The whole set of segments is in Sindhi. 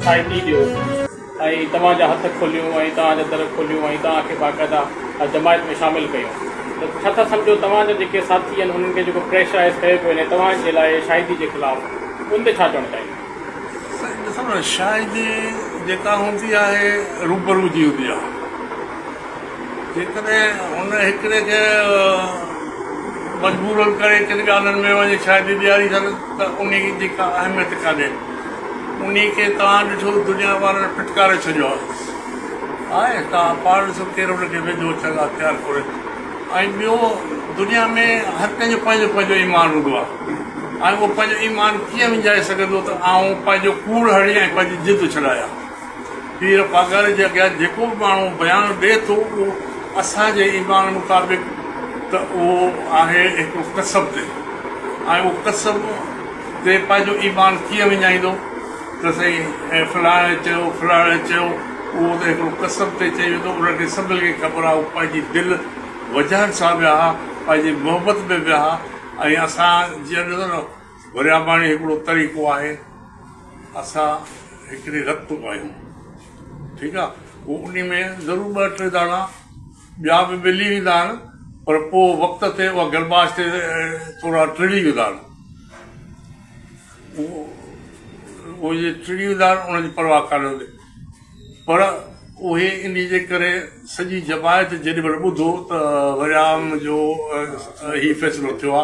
سائيٽي ڏيو ۽ توهان جا هٿ کوليون ۽ توهان جا در کوليون ۽ توهان کي باقاعده جماعت ۾ شامل ڪيون ته ڇا ٿا سمجهو توهان جا جيڪي ساٿي آهن انهن کي جيڪو پريشرائيز ڪيو پيو وڃي توهان جي لاء شاهدي جي خلاف ان تي ڇا چوڻ چاهيندا؟ سائين ڏسو نه شاهدي جيڪا هوندي آهي روبرو جي هوندي آهي. جيڪڏهن هن هڪڙي کي مجبورن ڪري ڪن ڳالهين ۾ وڃي شاهدي ڏياري سگهن ته انهي جي ڪا اهميت ڪانهي. انهي کي توهان ڏٺو دنيا وارن ڦٽڪاري ڇڏيو آهي. آء توهان پاڻ ڏسو ڪير ان کي ويجهو اچڻ لاء تيار ڪونهي. ۽ ٻيو دنيا ۾ هر ڪنهن جو پنهنجو پنهنجو ايمان هوندو آهي ۽ اهو پنهنجو ايمان ڪيئن وڃائي سگهندو ته آئون پنهنجو ڪوڙ هڻي ۽ پنهنجي جد ڇڏايا. پير پاڳاري جي اڳيان جيڪو به ماڻهو بيان ڏئي ٿو اهو اسان جي ايمان مطابق ته اهو آهي هڪڙو ڪسب تي ۽ اهو ڪسب تي پنهنجو ايمان ڪيئن وڃائيندو ته سائين فلاڻي چيو فلاڻي چيو اهو ته هڪڙو ڪسب تي چئي ويندو ان کي سڀني کي خبر آهي هو پنهنجي دل وجهن سان ويا ها پنهنجي محبت ۾ ويا ها ۽ اسان جيئن ڏسو نه ورياباڻي هڪڙو طريقو آهي اسان هڪڙي رت اگايون ٺيڪ آ پو انهي ۾ ضرور ٻه ٽي داڻا ٻيا به ملي ويندا آهن پر پو وقت تي اها گرماش تي ٿورا ٽڙي ويندا آهن اهي جي ٽڙي ويندا آهن انهن جي پرواهه ڪانه هوندي پر اهي انهي جي ڪري سڄي جماعت جيڏي مهل ٻڌو ته وريام جو هي فيصلو ٿيو آ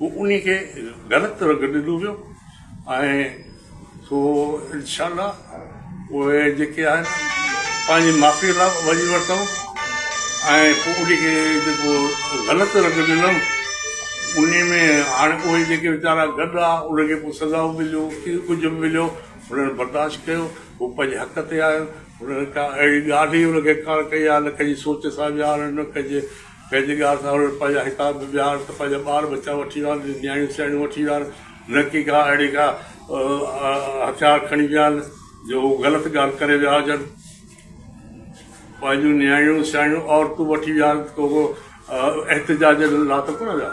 هو انهي کي غلط رنگ ڏنو ويو ۽ سو انشاء الله اهي جيڪي آهن پنهنجي معافي لاء وڃي ورتائون ۽ پوء انهي کي جيڪو غلط رنگ ڏنم انهي ۾ هاڻي اهي جيڪي ويچارا گڏ آ انهن کي پوء سزائون مليون ڪي ڪجهه به مليو انهن برداشت ڪيو هو پنهنجي حق تي آيو انهن ڪا اهڙي ڳالهه ئي انهن کي ڪا ڪئي آ نه ڪنهنجي سوچ سان ويا آهن نه ڪنهنجي پنهنجي ڳاهه سان اڙ، پنهنجا حقاق به ويهار ته پنهنجا ٻار ٻچا وٺي ويهار، نياڻيون سياڻيون وٺي ويهار، نه ڪي ڪا اهڙي ڪا هٿيار کڻي ويا آهن جو هو غلط ڳالهه ڪري ويا هجن. پنهنجون نياڻيون سياڻيون عورتون وٺي ويهار ڪو احتجاجن لا ته ڪونه ويا.